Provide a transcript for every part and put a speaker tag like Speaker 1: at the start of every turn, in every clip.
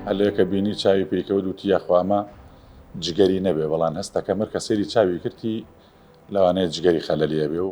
Speaker 1: هەلەیەکە بینی چاوی پێکەوە دوتی یاخوامە جگەری نەبێ بەڵام هەستەکە مەر کە سەری چاوی کردی لەوانەیە جگەری خەلەلیە بێ و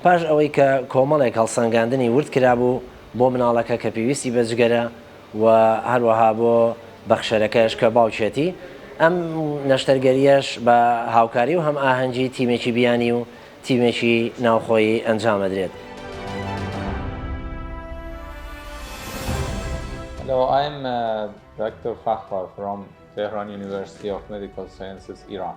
Speaker 2: پاش ئەوەی کە کۆمەڵێک هەڵسەنگاندنی ورد کرابوو بۆ مناڵەکە کە پێویستی بە جگەرە و هەروەها بۆ بەخشەرەکەش کە باوکیەتی، ئەم نەشتەرگەریەش بە هاوکاری و هەمئاهەنگی تیمێکی بیانی و تیمێکی ناوخۆیی ئەنجامەدرێت. Hello
Speaker 3: I'm Doctor Fakhar from Tehran University of Medical Sciences Iran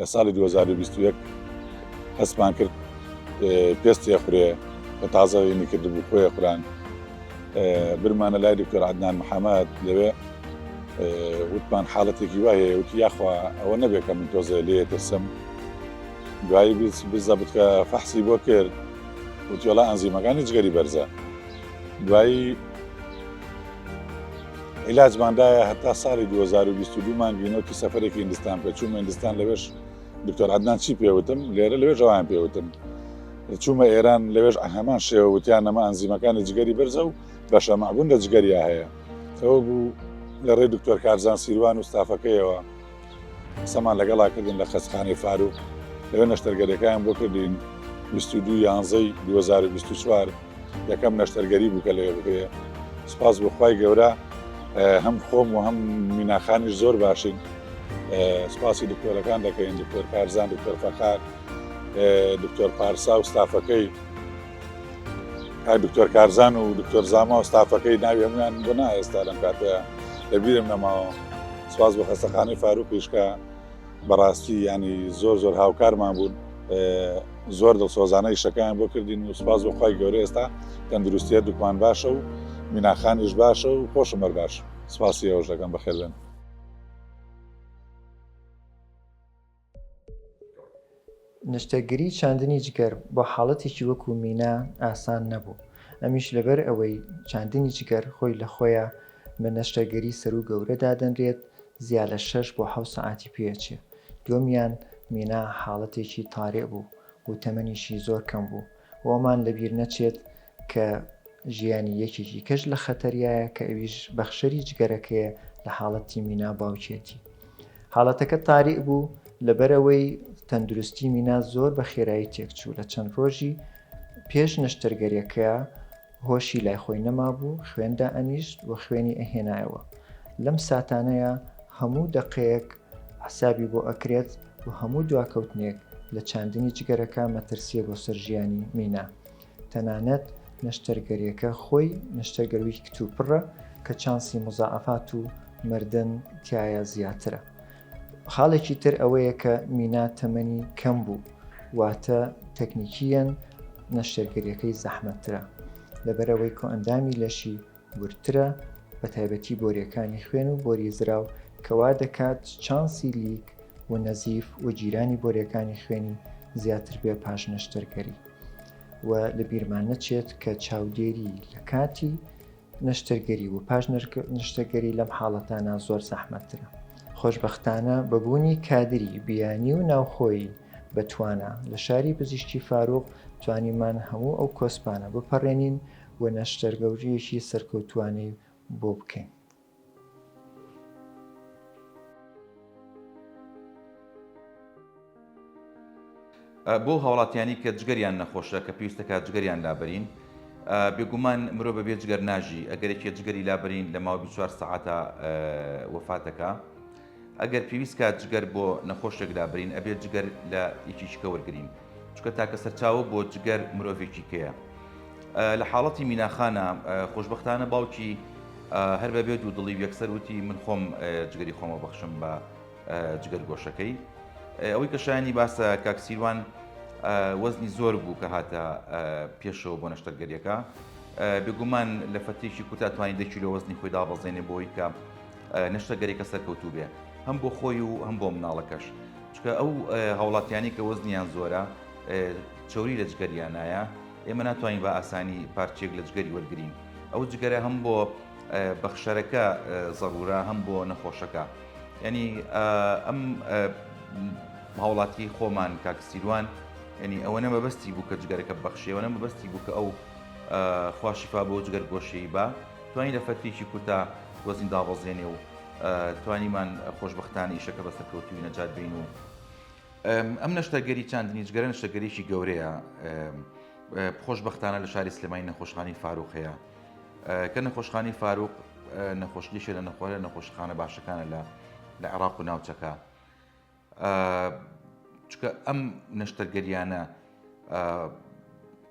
Speaker 1: لە ساڵی دوو هەزار و بیست و یەک هەستمان کرد پێستێ خورێ کە تازە وێنی کردبوو خۆێ خوران برمانە لای دکتۆر عدنان محەممەد لەوێ وتمان حاڵەتێکی وایە وتی یاخوا ئەوە نەبێت کە من تۆزە لێ ترسم دوایی بزە بتکە فەحسی بۆ کرد وتیۆڵە ئەنزیمەکانی جگەری بەرزە دوایی عیلاجمان دایە هەتا ساڵی دوو هەزار و بیست و دوو مانگی نۆ تو سەفەرێکی هیندستان بکە چوومە هیندستان لەوێش دکتۆر عەدنان چی پێ وتم لێرە لەوێش ئەویان پێ وتم چوومە ئێران لەوێش هەمان شێوە وتیان نەما ئەنزیمەکانی جگەری بەرزە و بەشە معبوون لە جگەریا هەیە ئەوە بوو لە ڕێ دکتۆر کارزان سیروان و ستافەکەیەوە قسەمان لەگەڵا کردن لە قەچخانەی فاروق لەوێ نەشتەرگەریەکەیان بۆ کردین بیست و دوو یانزەی دوو هەزار و بیست و چوار یەکەم نەشتەرگەری بوو کە لەوێ بکرێ سپاس بۆ خوای گەورە هەم خۆم و هەم میناخانیش زۆر باشین سپاسی دکتۆرەکان دەکەین دکتۆر کارزان دکتۆر فەخار دکتۆر پارسا و ستافەکەی کاک دکتۆر کارزان و دکتۆر زاما و ستافەکەی ناوی هەمویان بۆ نا ئێستا لەم کاتەیە لەبیرم نەماوە سواز بۆ خەستەخانەی فاروقیشکە بەڕاستی ینی زۆر زۆر هاوکارمان بوون زۆر دڵسۆزانە یشەکان بۆ کردین و سپاس بۆ خی گەورە ئێستا تەندروستیە دوکمان باشە و میناخانیش باشە و خۆشم بەر باش سپاسی ئەوش دەکەم بەخێبێن
Speaker 4: نیشتەرگەری چاندنی جگەر بۆ حاڵەتێکی وەکو مینا ئاسان نەبوو ئەمیش لەبەر ئەوەی چاندنی جگەر خۆی لە خۆیە بە نەشتەرگەری سەروو گەورە دادەنرێت زیا لە شەش بۆ حەوت سەعاتی پێ ئەچێ دووەمیان مینا حاڵەتێکی تارئ بوو و تەمەنیشی زۆر کەم بوو و ئەوەمان لەبیر نەچێت کە ژیانی یەکێکی کەش لە خەتەریایە کە ئەویش بەخشەری جگەرەکەیە لە حاڵەتی مینا باوکیەتی حاڵەتەکە تاریک بوو لەبەرەوەی تەندروستی مینا زۆر بە خێرایی تێکچوو لە چەند ڕۆژی پێش نەشتەرگەریەکە هۆشی لای خۆی نەمابوو خوێن دائەنیشت و خوێنی ئەهێنایەوە لەم ساتانەیا هەموو دەقەیەک حسابی بۆ ئەکرێت و هەموو دواکەوتنێک لە چاندنی جگەرەکە مەترسیە بۆ سەر ژیانی مینا تەنانەت نەشتەرگەریەکە خۆی نەشتەرگەروی کتوپڕە کە چانسی مزاعەفات و مردن تیایە زیاترە خاڵێکی تر ئەوەیە کە مینا تەمەنی کەم بوو، واتە تەکنیکییەن نەشتەرگەرییەکەی زەحمەتترە، لەبەرئەوەی کۆئەندامی لەشی وردترە، بەتایبەتی بۆرییەکانی خوێن و بۆری زراو، کە وا دەکات چانسی لیک و نەزیف و گیرانی بۆرییەکانی خوێنی زیاتر بێ پاش نەشتەرگەری. وە لەبیرمان نەچێت کە چاودێری لەکاتی نەشتەرگەری و پاش نەشتەگەری لەم حاڵەتانە زۆر زەحمەتترە خۆشببختانە بەبوونی کادری بیانی و ناوخۆی بەتوانە لە شاری پزیشتی فاروق توانیمان هەموو ئەو کۆسپانە بپەڕێنین و نەشتەرگەوریەکی سەرکەوتوانەی بۆ بکەین.
Speaker 5: بۆ هاوڵاتیانی کە جگەریان نەخۆشە کە پێویستە کات جگەریان لابەرین بێگومان مرۆ بە بێ جگەر ناژی ئەگەرێکی جگەری لابرین لە ماوە 24 سعاتە وفاتەکە. ئەگەر پێویست کات جگەر بۆ نەخۆشێک لابرین ئەبێت جگەر لە یەکێکیکە وەرگرین چکە تاکە سەرچاوە بۆ جگەر مرۆڤێکیکەیە لە حاڵەتی میناخانە خۆشببختانە باوکی هەر بەبێ دوو دڵی و یەکسەر وتی من خۆم جگەری خۆمە بەخشم بە جگەر گۆشەکەی ئەوەی کە شایانی باسە کاکسیروان وەزنی زۆر بوو کە هاتە پێشەوە بۆ نەشتەرگەریەکە بێگومان لە فەتێکی کوتا توانین دەکیلۆ وەزنی خۆی دابەزێنێ بۆی کە نەشتەرگەریەکە سەرکەوتوو بێ هەم بۆ خۆی و هەم بۆ مناڵەکەش چکە ئەو هاوڵاتیانی کە وەزنیان زۆرە چوری لە جگەریانایە ئێمە ناتوانین بە ئاسانی پارچێک لە جگەری وەرگین ئەو جگەرە هەم بۆ بەخشەرەکە زەڕورە هەم بۆ نەخۆشەکە ینی ئەم هاوڵاتی خۆمان کاکسیروان ینی ئەوە نە مەبەستی بوو کە جگەرەکە بەخشیەوە نە مەبەستی بوو کە ئەو خواشیفا بۆ جگەر گۆشەی بە توانین لە فەرتێکی کوتا وەزن دابەزێنێ و توانیمان خۆشبەختانە ئیشەکە بە سەرکەوتووی نەجات بین و ئەم نەشتەرگەری چاندنیجگەرە نەشتەگەریی گەورەیە خۆشببختانە لە شاری سلێمانی نەخۆشخانی فاروق هەیە کە نەخۆشخانی فاروق نەخۆشنیشە لە نەخۆرە نەخۆشخانە باشەکانە لە لە عێراق و ناوچەکە چکە ئەم نەشتەرگەریانە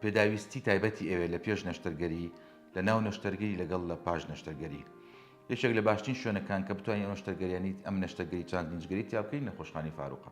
Speaker 5: پێداویستی تایبەتی ئەوێ لە پێش نەشتەرگەری لە ناو نەشتەرگەری لەگەڵ لە پاش نەشتەرگەری یەکێک لە باشترین شوێنەکان کە بتوانین ئەم نەشتەرگەریانیت ئەم نەشتەرگەری چاند نجگەری تیاکەین لە خۆشخانی فاروقە